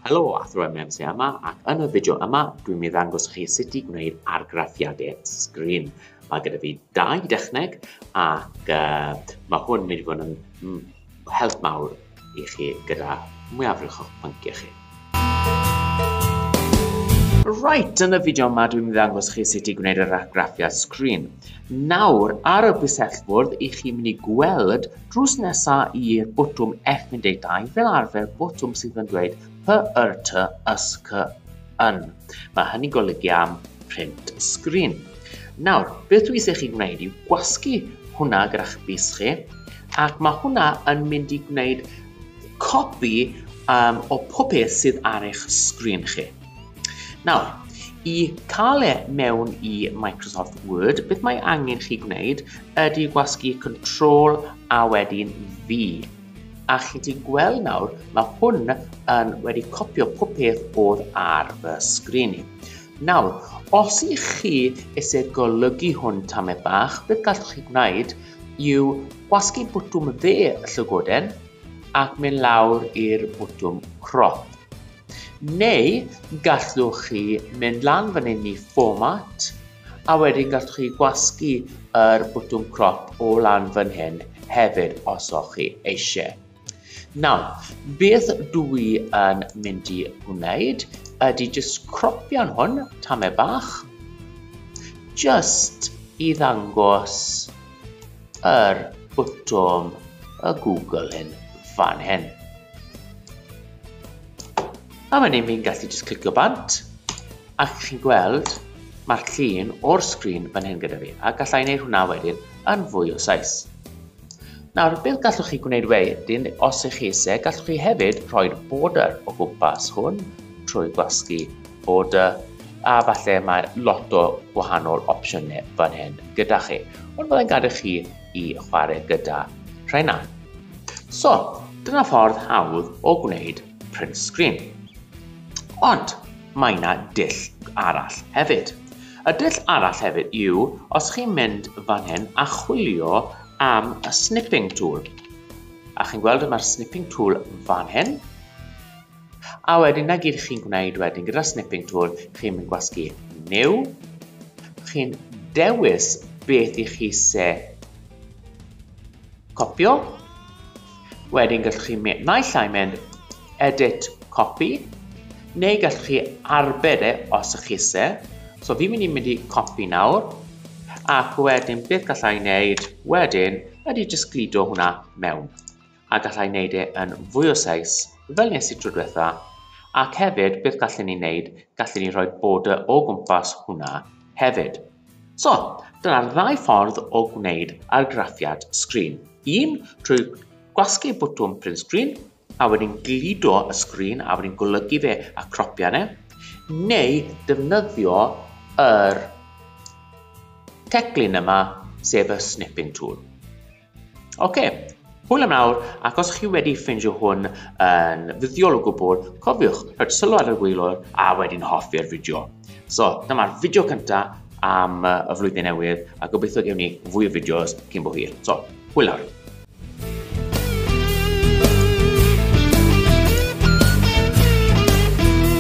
Helo, Athro MMC yma, ac yn y fideo yma, dwi'n mynd i ddangos chi sut i gwneud argraffiadau sgrin. Mae gyda fi dau dechneg, ac uh, mae hwn mynd i fod yn mm, help mawr i chi gyda mwyafrif o'ch pynciau chi. Right, yn y fideo yma dwi'n mynd i ddangos chi sut i gwneud yr argraffiad sgrin. Nawr, ar y bwysellfwrdd, i chi mynd i gweld Drws nesa i'r botwm F12 fel arfer botwm sydd yn dweud py yr ty ys cy yn. Mae hynny'n golygu am print sgrin. Nawr, beth dwi eisiau chi gwneud yw gwasgu hwnna gyda'ch bus chi, ac mae hwnna yn mynd i gwneud copi um, o popeth sydd ar eich sgrin chi. Nawr, i cael e mewn i Microsoft Word, beth mae angen chi gwneud ydy gwasgu Control a wedyn V. A chi ti'n gweld nawr, mae hwn yn wedi copio pob peth oedd ar fy sgrin i. Nawr, os i chi eisiau golygu hwn tamau bach, beth gallwch chi gwneud yw gwasgu bwtwm dde y llygoden ac mynd lawr i'r bwtwm crop. Neu gallwch chi mynd lan fan hyn i Format, a wedyn gallwch chi gwasgu yr bwtwm crop o lan fan hyn hefyd os o'ch chi eisiau. Nawr, beth dw i yn mynd i wneud ydy jyst cropio'n hwn, tamau bach, jyst i ddangos yr bwtwm y Google hyn fan hyn. A wedyn ni'n gallu just clicio bant, a chi'n gweld mae'r llun o'r sgrin fan hyn gyda fi, a gallai wneud hwnna wedyn yn fwy o saes. Nawr, beth gallwch chi gwneud wedyn, os ych chi eisiau, gallwch chi hefyd rhoi'r border o gwmpas hwn trwy gwasgu border, a falle mae lot o gwahanol opsiynau fan hyn. gyda chi, ond byddai'n gadw chi i chwarae gyda rhaina. So, dyna ffordd hawdd o gwneud print screen. Ond, mae yna dull arall hefyd. Y dull arall hefyd yw os chi'n mynd fan hyn a chwilio am y snipping tool. A chi'n gweld y mae'r snipping tool fan hyn. A wedyn 'na gyd chi'n gwneud wedyn gyda'r snipping tool, chi'n mynd gwasgu new, chi'n dewis beth i chi se copio, wedyn gallwch chi mynd, naill ai mynd edit copy, neu gallwch chi arbed e os ych chi se. So fi'n mynd i mynd i copy nawr, ac wedyn beth gallai wneud wedyn ydy jyst gludo hwnna mewn. a galla i neud e yn fwy o seis fel nes i tro dwetha, ac hefyd beth gallen ni neud, gallen ni rhoi border o gwmpas hwnna hefyd. So, dyna'r ddau ffordd o gwneud argraffiad sgrin. Un, trwy gwasgu bwtwm print screen, a wedyn gludo y sgrin a wedyn golygu fe a cropio ne, neu defnyddio yr teclyn yma, sef y snipping tool. Ok, hwyl am nawr, ac os chi wedi ffeindio hwn yn fuddiol o gwbl, cofiwch rhaid sylw ar y gweilwr a wedyn hoffi'r fideo. So, dyma'r fideo cyntaf am y flwyddyn newydd, a gobeithio gewn ni fwy o fideos cyn bo hir. So, hwyl nawr.